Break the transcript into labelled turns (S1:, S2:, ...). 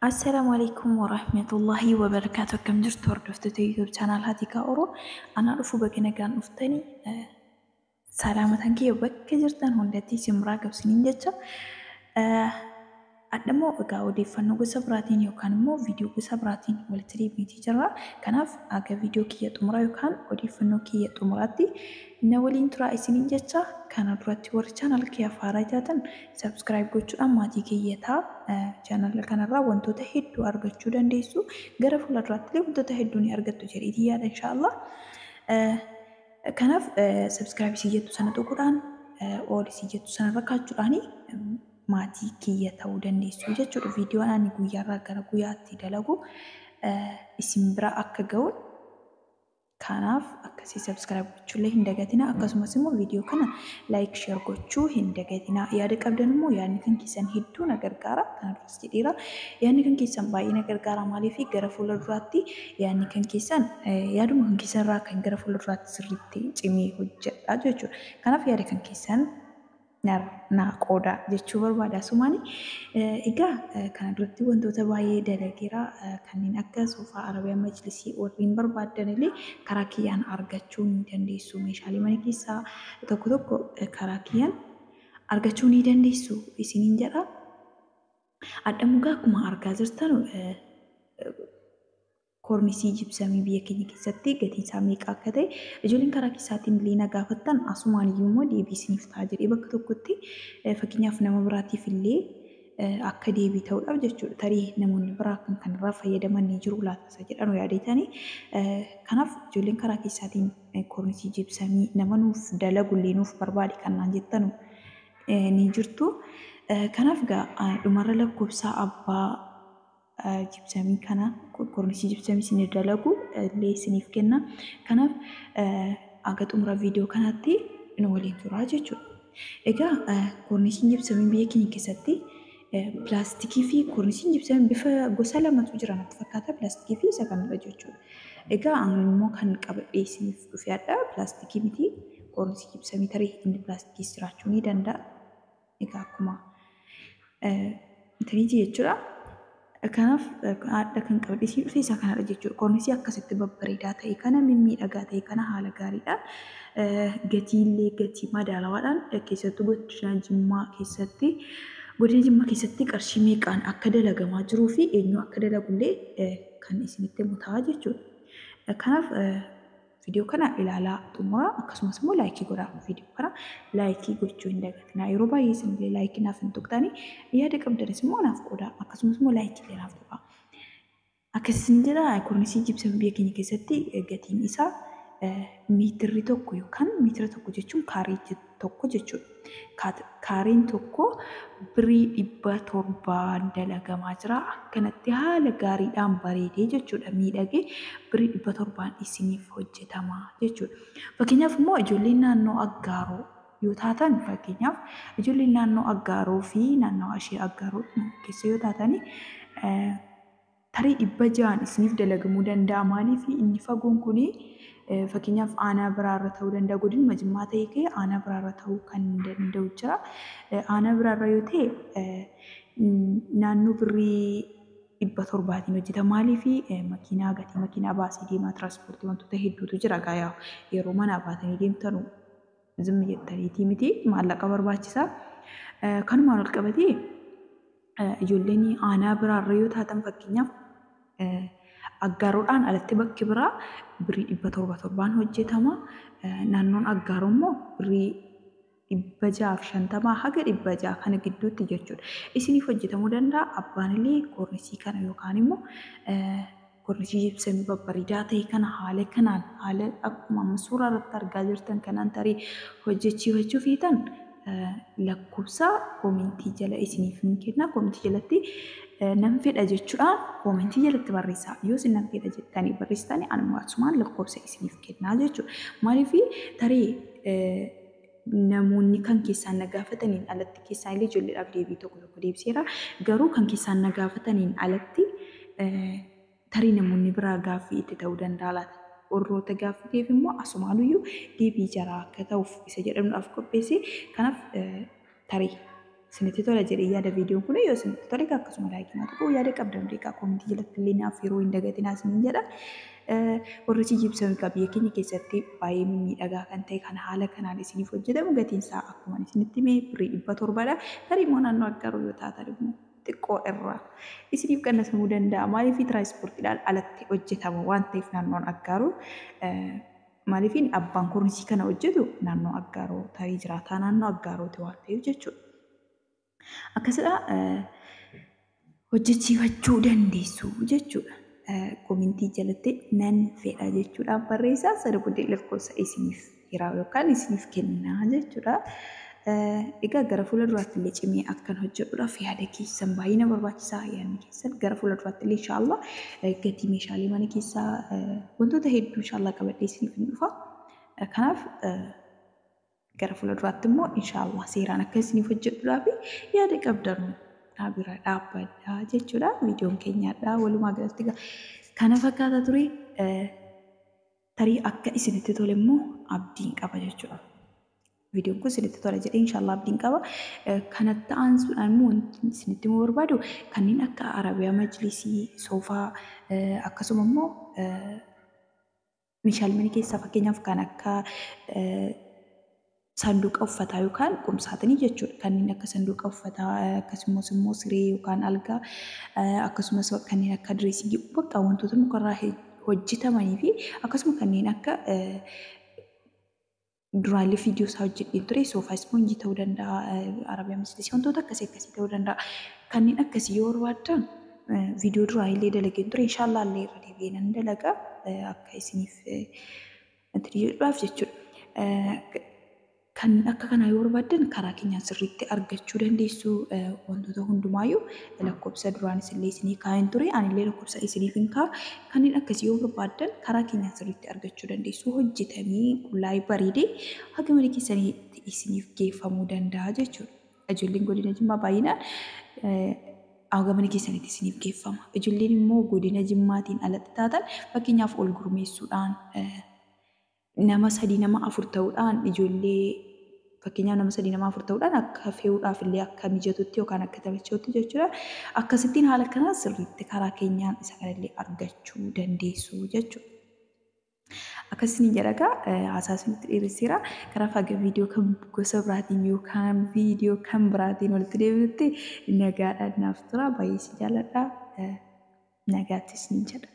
S1: Assalaamu alaikum warahmatullahi wabarakaatu akkam jirtu hordoftoota YouTube channel Hatikaa Oro anaa dhufu baga nagaan dhuftani salaamatan kiyya bakka jirtan hundatti isin biraa gabsiniin jecha adhammoo egaa odeeffannoo gosa biraatiin yookaan immoo viidiyoo gosa biraatiin walitti deebiitii jirra kanaaf aga viidiyoo kiyya xumuraa yookaan odeeffannoo kiyya xumuraatti na waliin turaa isiniin jecha kana duratti warri channel kiyya faaraa taatan Subscribe gochuudhaan maatii kiyya ta'a. Channel kanarraa wantoota hedduu argachuu dandeessu. Gara fuula duraattillee wantoota hedduu ni argattu jedheetii yaada inshaallah. Kanaaf subscribe isii jettu sana tuquudhaan all isii jettu sana rakkaachuudhaan maatii kiyya ta'uu dandeessu jechuudha. Viidiyoon ani guyyaarraa gara guyyaatti dalagu isin bira akka ga'uun Kanaaf akkasii subscribe gochuullee hin dagatina akkasumas immoo viidiyoo kana like share gochuu hin dagatina yaada qabdan immoo yaadni kan keessan hedduu na gargaara kana duras jedheera yaadni kan keessan baay'ee na gargaara maaliif gara fuula duraatti yaadni kan keessan yaaduma kan keessan irraa kan gara fuula duraatti sirriitti cimee hojjedha jechuudha kanaaf yaada kan keessan naa qoodaa jechuu barbaada asumaani. Egaa kana duratti wantoota baay'ee dalageera kanneen akka soofaa arabiyaa majlisii warreen barbaaddan illee karaa kiyyaan argachuu ni dandeessu meeshaalee mana keessaa tokko tokko karaa kiyyaan argachuu ni dandeessu isiniin jedha. Adhamugaa akkuma argaa jirtan Koornisii jibsamii biyya keenya keessatti gatiin isaa meeqa akka ta'e ijoolleen karaa keessaatiin illee na gaafattan asumaan iyyuu immoo deebii isiniif ta'a jedhee bakka tokkotti fakkeenyaaf nama biraatiif illee akka deebii ta'uudhaaf jechuudha. Tarii namoonni biraa kan kanarraa fayyadaman ni jiru laata isa jedhanu yaadeetani. Kanaaf ijoolleen karaa keessaatiin koornisii jibsamii nama nuuf dalagu illee nuuf barbaadi kan naan jettanu ni jirtu. Kanaaf dhumarra lakkoofsa abbaa jibsamii kana qulqullinsi jibsamii isinii dalagu illee isiniif kenna. Kanaaf haga xumura viidiyoo kanaatti nu waliin turaa jechuudha. Egaa koornisiin jibsamii biyya keenya keessatti pilaastikii fi koornisiin jibsamii bifa gosa lamatu jira natti fakkaata pilaastikii fi isa kanadha jechuudha. Egaa ani immoo kan qabadhee isiniif dhufe hadha pilaastikii miti koornisii jibsamii tarii inni pilaastikiis jiraachuu ni danda'a. Egaa akkuma intaliitii jechuudha. Kanaaf haadha kan qabate isii dhufte isaa kanadha jechuudha. Kornisii akkasitti babbareedaa ta'e kana mimmiidhagaa ta'e kana haala gaariidhaan gatiillee gatii madaalawaadhaan keessattuu godina Jimmaa keessatti godina Jimmaa keessatti qarshii meeqaan akka dalagamaa jiruu fi eenyu akka dalagullee kan isinitti himu ta'a jechuudha. Kanaaf Video kana ilaalaa xumuraa akkasumas immoo laayikii godhaa video kana laayikii gochuu hin dagatinaa yeroo baay'ee isinillee laayikii naaf hin tuqxanii yaada qabdanis immoo naaf qoodaa akkasumas immoo laayikii illee naaf tuqaa akkas isin jedha kornisii jibsama biyya keenya keessatti gatiin isaa meetirri tokko yookaan meetira tokko jechuun kaarii jechuudha. tokko jechuudha. Kaareen tokko birii dhibba torbaan dalagamaa jira. Akkanatti haala gaariidhaan bareedee jechuudha miidhagee birii dhibba torbaan isiniif hojjetama jechuudha. Fakkeenyaaf immoo ijoolleen naannoo aggaaroo yoo taatan fakkeenyaaf ijoolleen naannoo aggaaroo fi naannawaa ishee aggaaroo keessa yoo taatan Tarii dhibba ja'aan isiniif dalagamuu danda'a. Maaliif inni fagoon kun fakkeenyaaf aanaa biraarra ta'uu danda'a. Godinuma Jimmaa ta'ee kee aanaa biraarra ta'uu kan danda'u jira. Aanaa biraarra yoo ta'e naannoo birrii dhibba torbaatiin hojjeta. Maaliif makiinaa gatii makiinaa baasee deemaa tiraanspoortii wantoota hedduutu jira gaayaa yeroo manaa baatanii deemtanu. zimmi jettaniitii miti maallaqa barbaachisa. Eh, Kanumaan ol qabatee eh, ijoolleen aanaa biraarra yoo taatan fakkeenyaaf eh, aggaaroodhaan alatti bakki biraa birrii dhibba torba torbaan hojjetama. Eh, Naannoon aggaaroo immoo birrii dhibba jaaf shantamaa haga dhibba ja'a kana gidduutti jechuudha. Isiniif hojjetamuu danda'a abbaan illee koornisii kana yookaan immoo eh, Gorrifii ibsame babbaridaa ta'e kana haala kanaan haala akkuma amma suuraa irratti argaa jirtan kanaan tarii hojjechiifachuu feetan lakkoofsa koomentii jala isiniif hin kenna koomentii jalatti nan fedha jechuudhaan koomentii jalatti barreessaa yoo isin nan fedha jettanii barreessitanii anuma asumaan lakkoofsa isiniif kennaa jechuudha maaliif tarii Namoonni kan keessaan na gaafataniin alatti, keessaan illee ijoolleedhaaf deebii tokko tokko deebiseera. Garuu kan keessaan na gaafataniin alatti tarii namoonni biraa gaaffii itti ta'uu danda'a laata? Warroota gaaffii ta'eef immoo asumaanuyyuu deebii jaraa akka ta'uuf isa jedhanuudhaaf qopheesse. Kanaaf Tarii isinitti tola jedhee yaada viidiyoon kun yoo isinitti tole egaa akkasuma laayikii naa tuquu yaada qabdan illee egaa koomentii jalatti illee naaf yeroo hin dagatinaa isiniin jedha. Warri si jibsan egaa biyya keenya keessatti baay'ee mimmiidhagaa kan ta'e kan haala kanaan isiniif hojjetamu gatiin isaa akkuma isinitti hime birrii dhibba torbadha. Tarii immoo naannoo Aggaaroo yoo taatan immoo xiqqoo irraa isiniif qannasamuu danda'a. Maaliif tiraanspoortiidhaan alatti hojjetama waan ta'eef naannoon Aggaaroo Maaliifin abbaan kornisii kana hojjetu naannoo Aggaaroo tarii jiraataa naannoo Aggaarooti waan ta'eef jechuudha. Akkasidha hojjechiifachuu dandeessu jechuudha. Komintii jalatti nan fedha jechuudhaan barreessaa sana booddee lakkoofsa isiniif hiraa yookaan isiniif kennaa jechuudha. Egaa gara fuula duraatti illee cimee akkan hojjedhuudhaaf yaada keessan baay'ee na barbaachisa. Yaadni keessan gara fuula duraatti illee inshaallah gatii meeshaalee mana keessaa wantoota hedduu inshaallah qabadhee isiniif hin dhufa. Kanaaf gara fuula duraatti immoo inshaallah seeraan akka isiniif hojjedhuudhaa fi yaada qabdanu naa bira dhaabbadhaa jechuudha. Viidiyoon keenyaadhaa walumaa galatti kana fakkaata ture. Tarii akka isinitti tole immoo abdiin qaba jechuudha. Viidiyoon kun isinitti tola jedhee inshaallah abdiin qaba. Kanatti aansuudhaan immoo wanti isinitti himuu barbaadu kanneen akka arabiyaa majlisii, soofaa akkasuma immoo meeshaalee mana keessaa fakkeenyaaf kan akka Saanduqa uffataa yookaan qumsaaxinii jechuudha. Kanneen akka sanduuqa uffataa akkasumas immoo siree yookaan algaa akkasumas kanneen akka direesingii bakka wantoota mukarraa hojjetamanii fi akkasuma kanneen akka duraalee viidiyoo isaa hojjedheen ture soofaa ispoonjii ta'uu danda'a arabiyaa mislisii wantoota akkasii akkasii ta'uu danda'a. Kanneen akkasii yoo barbaaddan viidiyoo duraa illee dalageen ture inshaallah illee irra deebi'ee nan dalaga akka isiniif Wanti jedhudhaaf jechuudha. Kan akka kanaa yoo barbaaddan karaa keenyaan sirriitti argachuu dandeessu wantoota hundumaayyuu lakkoofsa duraan isinillee isinii kaa'een ture anillee lakkoofsa isiniif hin kaa'a kanneen akkasii yoo barbaaddan karaa keenyaan sirriitti argachuu dandeessu hojjetamee qullaa'ee bareedee haga mana keessaniitti isiniif geeffamuu danda'a jechuudha. Ijoolleen godina Jimmaa baay'inaan hanga mana keessanitti isiniif geeffama. Ijoolleen immoo godina Jimmaatiin alatti taatan fakkeenyaaf ol gurmeessuudhaan nama sadii nama afur ta'uudhaan ijoollee fakkeenyaaf nama sadii nama afur ta'uudhaan akka fe'uudhaaf illee akka mijatutti yookaan akka taphachuutti jechuudha. Akkasittiin haala kanaan sirriitti karaa keenyaan isa kanallee argachuu dandeessu jechuudha. Akkasiin jedhagaa haasaasun itti dheeresseera. Kanaaf haga viidiyoo kan gosa biraatiin yookaan viidiyoo kan biraatiin walitti deebinutti nagaadhaan naaf tura. Baay'ee si jaaladha. Nagaatti isiniin jedha.